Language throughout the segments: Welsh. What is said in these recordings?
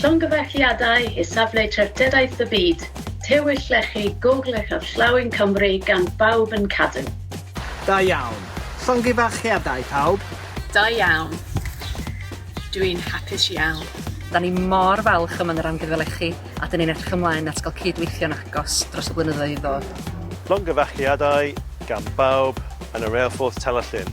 Llongyfarchiadau i Safle Treftadaeth y Byd, Tywyll Llechi, Gogledd Gorllewin Cymru gan bawb yn cadw. Da iawn. Llongyfarchiadau pawb. Da iawn. Dw i'n hapus iawn. Da ni mor falch o Menrau Amgueddfa Lechi a dyn ni'n edrych ymlaen at gael cyd-weithio'n agos dros y blynyddoedd i ddod. Llongyfarchiadau gan bawb yn y Reilffordd Tellerllyn.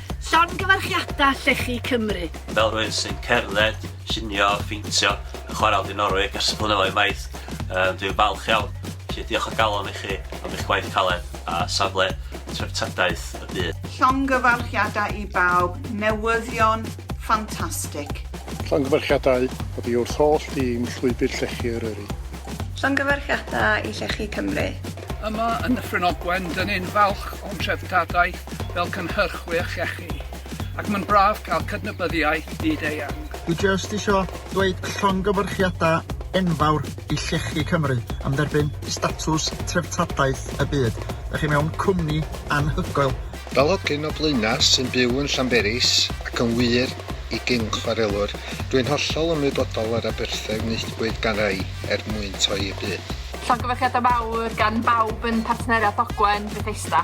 Llongyfarchiadau Llechi Cymru! Fel rhywun sy'n cerdded, llunio, pheintio a chwarae o Dinorwig ers y blynyddoedd maith, yy dwi'n falch iawn. Felly diolch o galon i chi am eich gwaith caled a safle treftadaeth y byd. Llongyfarchiadau i bawb, newyddion ffantastig! Llongyfarchiadau oddi wrth holl dîm Llwybr Llechi Eryri. Llongyfarchiadau i Llechi Cymru! Yma yn Nyffryn Ogwen, dyn ni'n falch o'n treftadaeth. fel cynhyrchwyr llechi, ac mae'n braf cael cydnabyddiaeth byd-eang. Dwi jyst isio dweud llongyfarchiadau enfawr i Llechi Cymru am dderbyn statws Treftadaeth y Byd. Dych chi mewn cwmni anhygoel. Fel hogyn o Blaenau sy'n byw yn Llanberis, ac yn wir, i gyn chwarelwr, dw i'n hollol ymwybodol o'r aberthau wnaethpwyd gan rai er mwyn toi y byd. Llongyfarchiadau mawr gan bawb yn Partneriaeth Ogwen Bethesda.